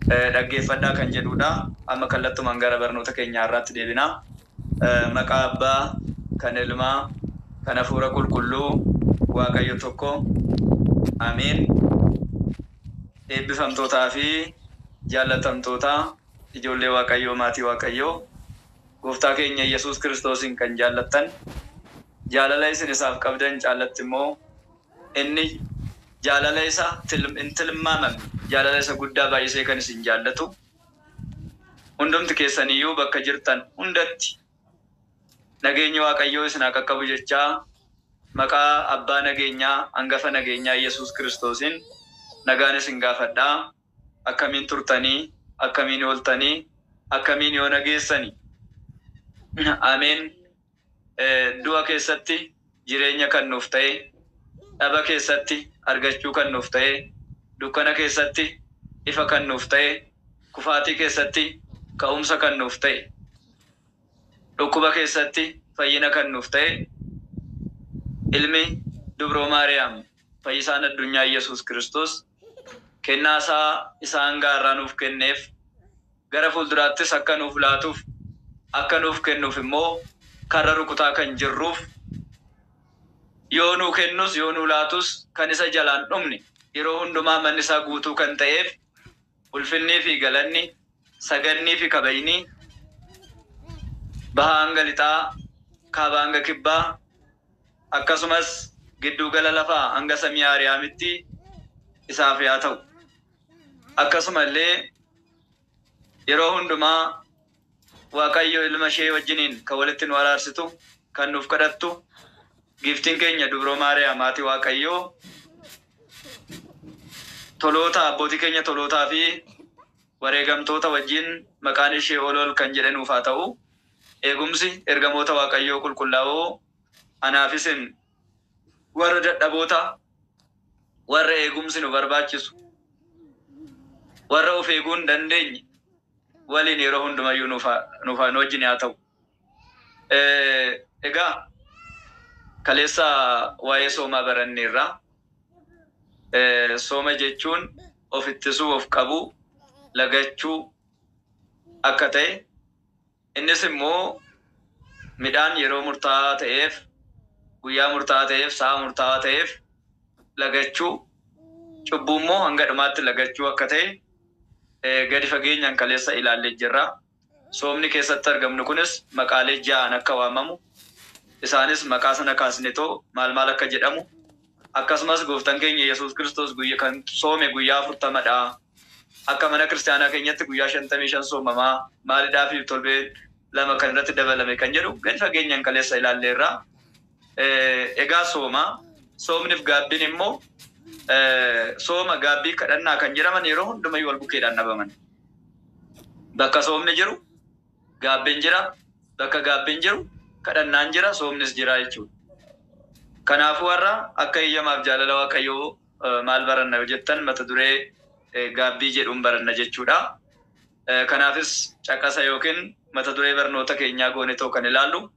dhaggeeffadhaa kan jedhuu dha. Amma kallattumaan gara barnoota keenya har'aatti deebina. Maqaa Abbaa, kan Ilmaa, kan Hafuura Qulqulluu, Waaqayyo tokko. Amiin. Eebbifamtootaa fi jaallatamtoota ijoollee Waaqayyoo, maatii Waaqayyoo, Gooftaa keenya Yesuus Kiristoosiin kan jaallattan, jaalala isin isaaf qabdan caallatti immoo Inni jaalala isa hin tilmaamamne, jaalala isa guddaa baay'isee kan isin jaallatu, hundumti keessan iyyuu bakka jirtan hundatti nageenyi Waaqayyoo isin haa qaqqabu jechaa, maqaa Abbaa nageenyaa, Angafa nageenyaa Iyyasuus Kiristoosiin nagaan isin gaafadha. Akkamiin turtanii? Akkamiin ooltanii? Akkamiin yoona geessani? Ameen! Du'a keessatti jireenya kan nuuf ta'e, dhaba keessatti argachuu kan nuuf ta'e, dukkana keessatti ifa kan nuuf ta'e, kufaatii keessatti ka'umsa kan nuuf ta'e, dhukkuba keessatti fayyina kan nuuf ta'e Ilmi Dubroo Maariyaam, Fayyisaan Addunyaa Yesuus Kiristoos, kennaa isaa isa hanga har'aa nuuf kenneef, gara fuulduraattis akka nuuf laatuuf, akka nuuf kennuuf immoo karra rukutaa kan jirruuf, yoo nuu kennus yoo nuu laatus kan isa jalaan dhumne, yeroo hundumaa manni isaa guutuu kan ta'eef, ulfinnii fi galanni. Sagannii fi kabajni bahaa hanga lixaa, kaabaa hanga kibbaa, akkasumas gidduu gala lafaa hanga samii Aariyaamitti isaaf yaa ta'u. Akkasuma illee yeroo hundumaa Waaqayyo ilma ishee wajjiniin kan walitti nu araarsitu, kan nuuf kadhattu Giiftiin keenya Dubroo Maariyaam Haati Waaqayyoo toloota, abbootii keenya tolootaa fi. Wareegamtoota wajjin maqaan ishee ol ol kan jedhe nuuf haa ta'u. Eegumsi ergamoota Waaqayyoo qulqullaa'oo anaa fi isin warra dadhaboota, warra eegumsi nu barbaachisu, warra of eeguu hin dandeenye waliin yeroo hundumayyuu nuuf haa, nuuf haa, nu wajjin haa ta'u. Egaa kaleessa waa'ee soomaa baranneerra. Sooma jechuun of ittisuu, of qabuu, lagachuu akka ta'e, innis immoo midhaan yeroo murtaa'aa ta'eef, guyyaa murtaa'aa ta'eef, sa'a murtaa'aa ta'eef lagachuu, cubbuu immoo hanga dhumaatti lagachuu akka ta'e gadi fageenyaan kaleessa ilaallee jirra. Soomni keessatti argamnu kunis maqaalee ja'aan akka waamamu, isaanis maqaa sana kaasnetoo maal maal akka jedhamu, akkasumas Gooftan keenya Yesuus Kiristoos guyya kan soome guyyaa 40 dha, akka mana kiristiyaanaa keenyatti guyyaa 55 soomama, maalidhaafi torbee lama kan irratti dabalame kan jedhu gadi fageenyan kaleessa ilaalleerra. Egaa sooma, soomnif gaabbiin immoo sooma, gaabbii, kadhannaa kan jedhaman yeroo hundumayyu wal bukeedhaan dhabaman. Bakka soomni jiru gaabbiin jira, bakka gaabbiin jiru kadhannaan jira, soomnis jira jechuudha. Kanaafuu har'a akka eeyyamaaf jaalala Waaqayyoo maal baranna yoo jettan mata duree gaabbii jedhuun baranna jechuudha. Kanaafis caqasa yookiin mata duree barnoota keenyaa goonetoo kan ilaallu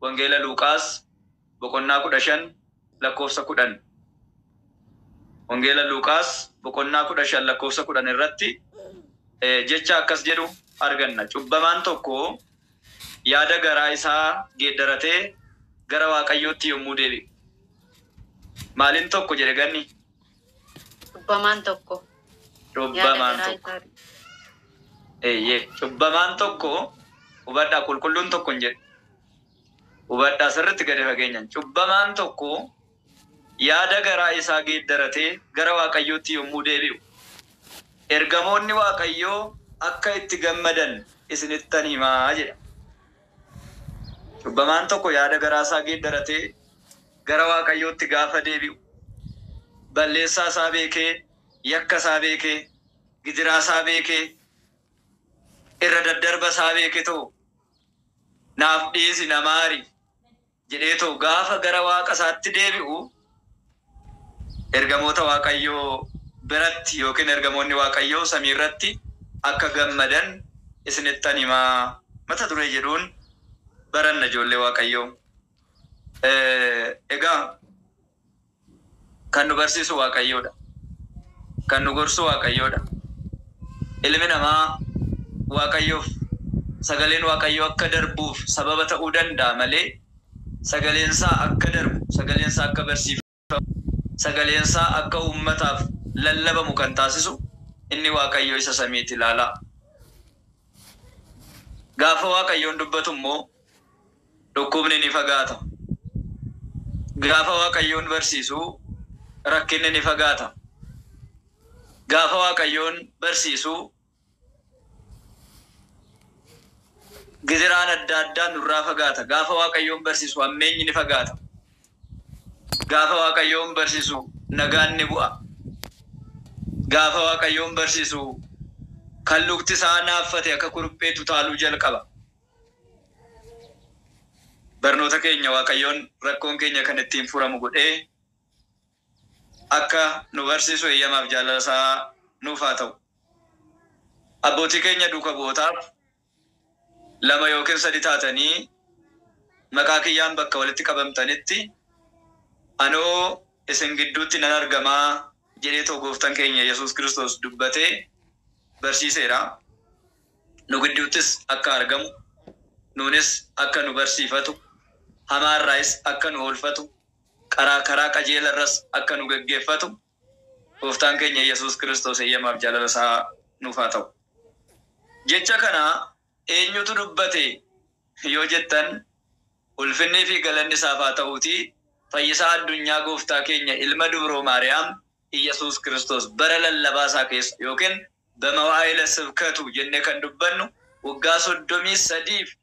Wangeela Luuqaas boqonnaa 15 lakkoofsa 10. Wangeela Luuqaas boqonnaa 15 lakkoofsa 10 irratti jecha akkas jedhu arganna, Cubbamaan tokko yaada garaa isaa geeddaratee gara Waaqayyootti yommuu deebi'u. Maalin tokko jedhe Ganni? Cubbamaan tokko yaada Cubbamaan garaa tokko. isaa Eeyyee, cubbamaan tokko hubadhaa qulqulluun tokko hin jedhu. Hubadhaa, sirriitti gadi fageenyaan. Cubbamaan tokko yaada garaa isaa geeddaratee gara Waaqayyootti yommuu deebi'u, ergamoonni Waaqayyoo akka itti gammadan isinittan hima jedha. Cubbamaan tokko yaada garaa isaa geeddaratee gara Waaqayyootti gaafa deebi'u, balleessaa isaa beekee, yakka isaa beekee, gidiraa isaa beekee, irra daddarba isaa beeketoo naaf dhiisi na maari jedheetoo gaafa gara waaqa isaatti deebi'u ergamoota waaqayyoo biratti yookiin ergamoonni waaqayyoo samii irratti akka gammadan isinittan hima mata duree jedhuun baranna ijoollee waaqayyoo egaa Kan nu barsiisu Waaqayyoodha. Kan nu gorsu Waaqayyoodha. Ilmi namaa Waaqayyoof sagaleen Waaqayyoo akka darbuuf sababa ta'uu danda'a malee sagaleensaa akka darbu, sagaleensaa akka barsiifamu, sagaleensaa akka uummataaf lallabamu kan taasisu inni Waaqayyo isa samiiti. Ilaalaa! Gaafa Waaqayyoon dubbatummoo Dhukkubni ni fagaata. Gaafa Waaqayyoon barsiisu rakkinni ni fagaata. Gaafa Waaqayyoon barsiisu giziraan adda addaa nurraa fagaata. Gaafa Waaqayyoon barsiisu hammeenyi ni fagaata. Gaafa Waaqayyoon barsiisu nagaan ni bu'a. Gaafa Waaqayyoon barsiisu kan lukti isaa naaffate akka kuruphee tutaaluu jalqaba. Barnoota keenya Waaqayyoon rakkoon keenya kan ittiin furamu godhee akka nu barsiisu eeyyamaaf jaalala isaa nuuf haa ta'u. Abbootii keenya duuka bu'ootaaf lama yookiin sadi taatanii maqaa kiyyaan bakka walitti qabamtanitti anoo isin gidduutti nan argamaa jedhee too gooftan keenya Yesuus Kiristoos dubbatee barsiiseera. nu gidduuttis akka argamu, nuunis akka nu barsiifatu, hamaa irraayis akka nu oolfatu, qaraa karaa qajeela irras akka nu geggeeffatu Gooftaan keenya Yesuus Kiristoos eeyyamaaf jaalala isaa nuuf haa ta'u. Jecha kana eenyutu dubbate yoo jettan, ulfinnii fi galanni isaaf haa ta'uutii, Fayyisaa addunyaa Gooftaa keenya Ilma Dubroo Maariyaam Iyyasuus Kiristoos bara lallabaa isaa keessa ykn bamawaa'ila sibkatu jennee kan dubbannu waggaa 33 fi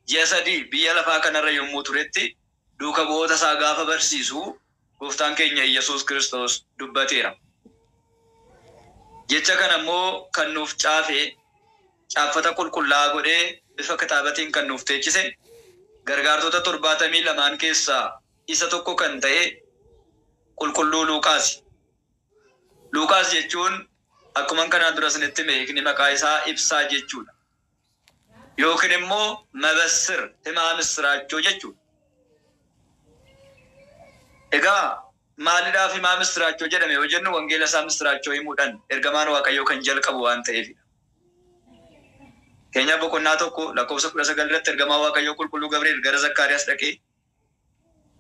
ji'a 3 biyya lafaa kana irra yommuu turetti duuka bu'oota isaa gaafa barsiisu Gooftaan keenya Iyyasuus Kiristoos dubbateera. Jecha kana immoo kan nuuf caafe, caaffata qulqullaa'aa godhee bifa kitaabatiin kan nuuf teechise, gargaartota 72n keessaa isa tokko kan ta'e Qulqulluu Luuqaasi. Luuqaas jechuun akkuman kanaan dura isinitti hime hiikni maqaa isaa Ibsaa jechuu dha. Yookiin immoo Mabassir, Himaa Missiraachoo jechuu dha. Egaa maalidhaaf Himaa Missiraachoo jedhame yoo jennu wangeela isaa missiraachoo himuudhan ergamaan Waaqayyoo kan jalqabu waan ta'eefi dha. Fakkeenyaaf boqonnaa 1 lakkoofsa 19 irratti ergamaan Waaqayyoo Qulqulluu Gabri'eel gara Zakkaariyaas dhaqee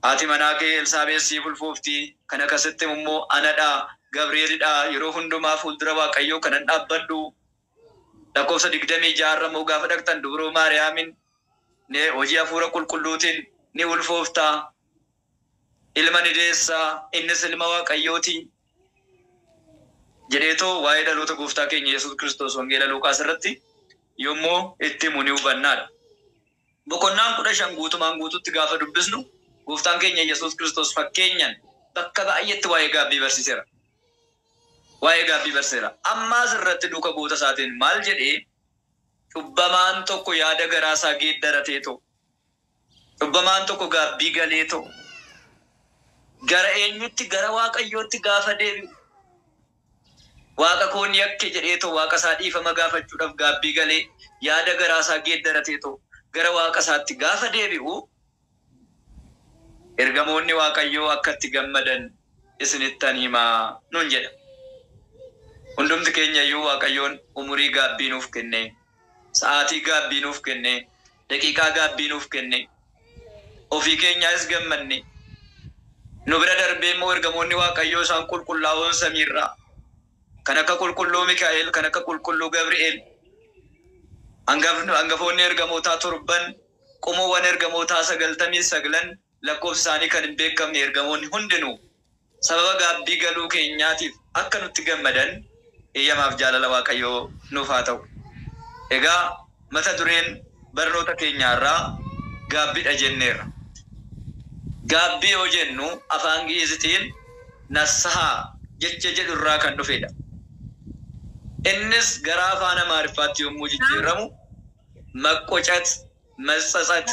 Haati manaa kee Elsaabeex siif ulfoofti, kan akkasitti himu immoo ana dha, Gabri'eel dha, yeroo hundumaa fuuldura Waaqayyoo kanan dhaabbadhu. Lakkoofsa 26 irra immoo gaafa dhaqxan dubroo Maariyaamiin ni hojii Hafuura Qulqulluutiin ni ulfoofta, ilma ni deessa, innis ilma Waaqayyoo ti jedheetoo waa'ee dhaloota Gooftaa keenya Yesuus Kiristoos Wangeela Luuqaas irratti yommuu itti himu ni hubanna dha. Boqonnaan 15 guutumaan guutuutti gaafa dubbisnu Gooftaan keenya Yesuus Kiristoos fakkeenyan bakka baay'eetti waa'ee gaabbii barsiisera. Waa'ee gaabbii barsiisera. Amma as irratti duuka bu'oota isaatiin maal jedhee? Cubbamaan tokko yaada garaa isaa geeddarateetoo? Cubbamaan tokko gaabbii galeetoo? Gara eenyutti? Gara Waaqayyootti gaafa deebi'u. Waaqa koo ni yakke jedheetoo Waaqasaa dhiifama gaafachuudhaaf gaabbii galee, yaada garaasaa geeddarateetoo gara Waaqasaatti gaafa deebi'u, Ergamoonni Waaqayyoo akka itti gammadan isinittan hima nuun jedha. Hundumti keenyayyuu Waaqayyoon umurii gaabbii nuuf kennee, Sa'aatii gaabbii nuuf kennee, daqiiqaa gaabbii nuuf kennee, ofii keenyaayis gammannee, nu bira darbee immoo ergamoonni Waaqayyoo isaan qulqullaa'oon samii irraa, kan akka qulqulluu Mikaa'el, kan akka qulqulluu Gabri'eel, angafni, angafoonni ergamootaa torban, qomoowwan ergamootaa sagaltamii saglan, lakkoofsi isaanii kan hin beekamne ergamoonni hundinuu sababa gaabbii galuu keenyaatiif akka nutti gammadan eeyyamaaf jaalala Waaqayyoo nuuf haa ta'u. Egaa mata dureen barnoota keenya har'aa gaabbidha jenneerra. Gaabbii yoo jennu afaan Gi'iizitiin Nassahaa jecha jedhu irraa kan dhufedha. Innis gara afaan Amaariffaatti yommuu jijjiirramu Maqqocat, Matsatsath,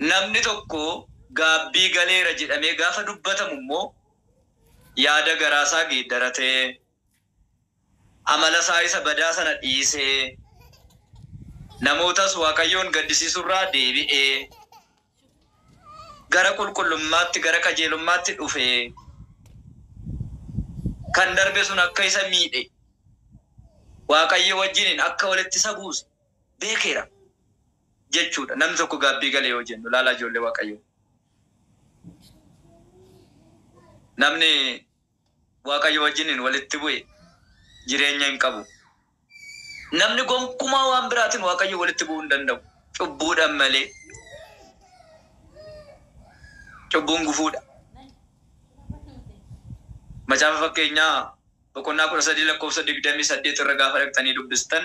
Namni tokko gaabbii galeera jedhamee gaafa dubbatamu immoo yaada garaa isaa geeddaratee, amala isaa isa badaa sana dhiisee, namootas Waaqayyoon gaddisiisuu irraa deebi'ee, gara qulqullummaatti, gara qajeelummaatti dhufee, kan darbe sun akka isa miidhe, Waaqayyoo wajjiniin akka walitti isa buuse, beekeera jechuu dha. Namni tokko gaabbii gale yoo jennu, ilaalaa ijoollee Waaqayyoo, namni Waaqayyoo wajjiniin walitti bu'e jireenya hin qabu. Namni gonkumaa waan biraatiin Waaqayyoo walitti bu'uu hin danda'u, cubbuudhaan malee. Cubbuun gufuu dha. Macaafa fakkeenyaa boqonnaa kudha sadii lakkoofsa digdamii saddeet irra gaafa dhaqxanii dubbistan,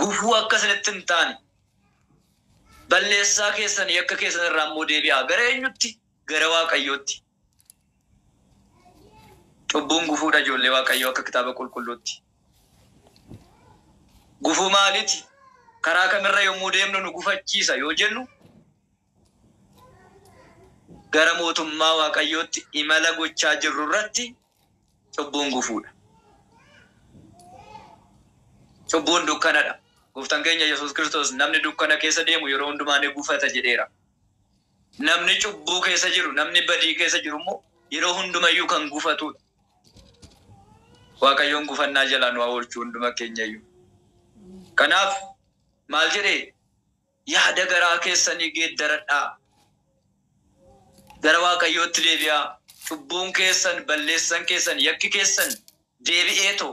Gufuu akka isinitti hin taane, balleessaa keessan, yakka keessan irraa immoo deebi'aa. Gara eenyutti? Gara Waaqayyootti. Cubbuun gufuu dha ijoollee Waaqayyoo akka kitaaba qulqulluutti. Gufuu maaliti? Karaa kamirra yommuu deemnu nu gufachiisa yoo jennu, Gara mootummaa Waaqayyootti imala gochaa jirrurratti cubbuun gufuudha. Cubbuun dukkanadha. Gooftaan keenya Yesuus Kiristoos namni dukkana keessa deemu yeroo hundumaa ni gufata jedheera. Namni cubbuu keessa jiru, namni badii keessa jiru immoo yeroo hundumayyuu kan gufatudha. Waaqayyoon gufannaa jalaa nu haa oolchu hunduma keenyayyuu. Kanaaf maal jedhee? Yaada garaa keessanii geeddaradhaa. Gara Waaqayyootti deebi'aa. Cubbuun keessan, balleessan keessan, yakki keessan deebi'eetoo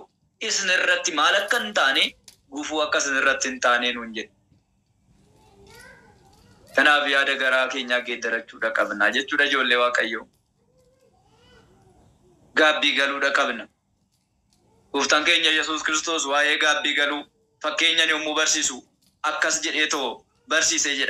isin irratti maal akka hin taane, gufuu akka isin irratti hin taane nuun jedhe. Kanaaf yaada garaa keenyaa geeddarachuudha qabna jechuudha ijoollee Waaqayyoo. Gaabbii galuudha qabna. Gooftaan keenya Yesuus Kiristoos waa'ee gaabbii galuu fakkeenyan yommuu barsiisu akkas jedheetoo barsiise jedha.